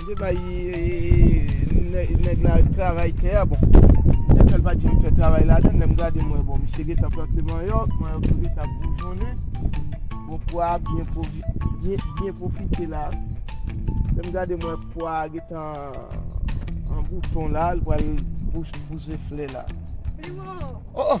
Mwen te bay nèg la travay tè a, bon, mwen fè l pa di m fè travay ladan, lè m gade m wè bon misye gen tan plante manyòk, manyòk yo gen tan ap boujonnen, bon pwa a byen pwofite la, lè m gade m wè pwa a gen tan an bouton la, l pral pouse flè la. Primo! O!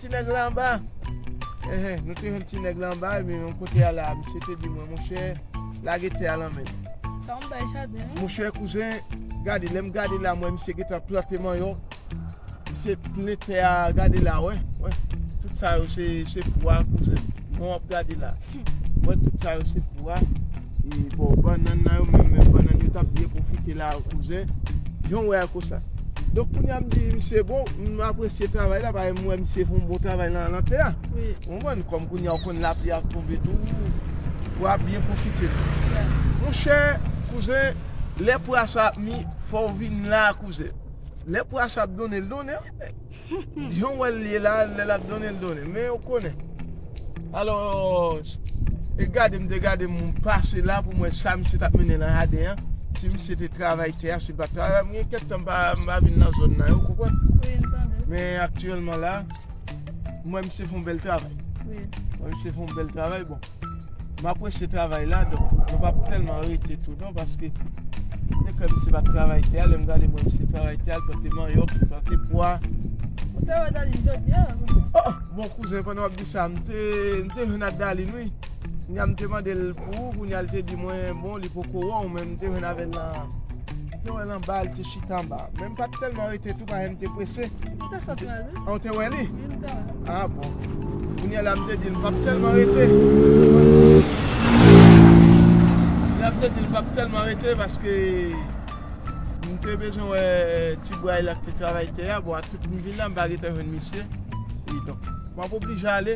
Ti nèg la anba? Ehe, nou te jwenn ti nèg la anba e men yon kote a la a. Misye te di mwen, monchè, lage tè a lan men m. Sa yon bèl jaden wi. Monchè kouzen, gade, lè m gade la m wè misye gen tan plante manyòk. Misye plen tè a, gade la, wè, wè. Tout sa yo se pou a kouzen. Bon w ap gade la. Mwen tout sa yo se pou a. E bò bannann nan yo menm menm bannann yo tap byen pwofite la a kouzen. Jan w wè a konsa. Donk kounye a m di misye bon m apresye travay la paske m wè misye fè yon bon travay nan lantè a. Ou konprann? Kòm kounye a ou konn lapli a ap tonbe tou pou a byen pwofite l. Monchè kouzen lè pra sa ap mi fò w vin la a kouzen. Lè pra sa ap donnen l donnen wi men. Yon wè l ye la lè lap donnen l donnen men ou konnen alòs e gade m te gade m pase la pou m wè sa misye tap mennen nan jaden an si misye te travay tè a si l pat travay m gen kèk tan m pa vin nan zòn nan ou konprann men aktyèlman la m wè misye fon bèl travay m wè misye fon bèl travay bon. M apresye travay la donk mwen pa tèlman rete tou non paske m te kwè misye pa t travay tè a lè m gade m wè misye travay tè a l plante manyòk li plante pwa Ou te wè Dalin jodi an kouzen? O! Bon kouzen pandan w ap di sa m te m te jwenn ak Dalin wi kounye a m te mande l pou ou kounye a l te di mwen bon li poko wè w men m te jwenn avè l nan m te wè l anba l te chita anba men m pa t tèlman rete tou paske m te prese. Ou te sot nan. Ah ou te wè li? Yn dan. Ah bon. Kounyè la m te di l m pap tèlman rete. Kounyè la m te di l m pap tèlman rete paske m te bezwen wè ti bway la k te travay tè a. Bon ak tout m vin la m pa gentan jwenn misye. Kidonk m ap oblije ale.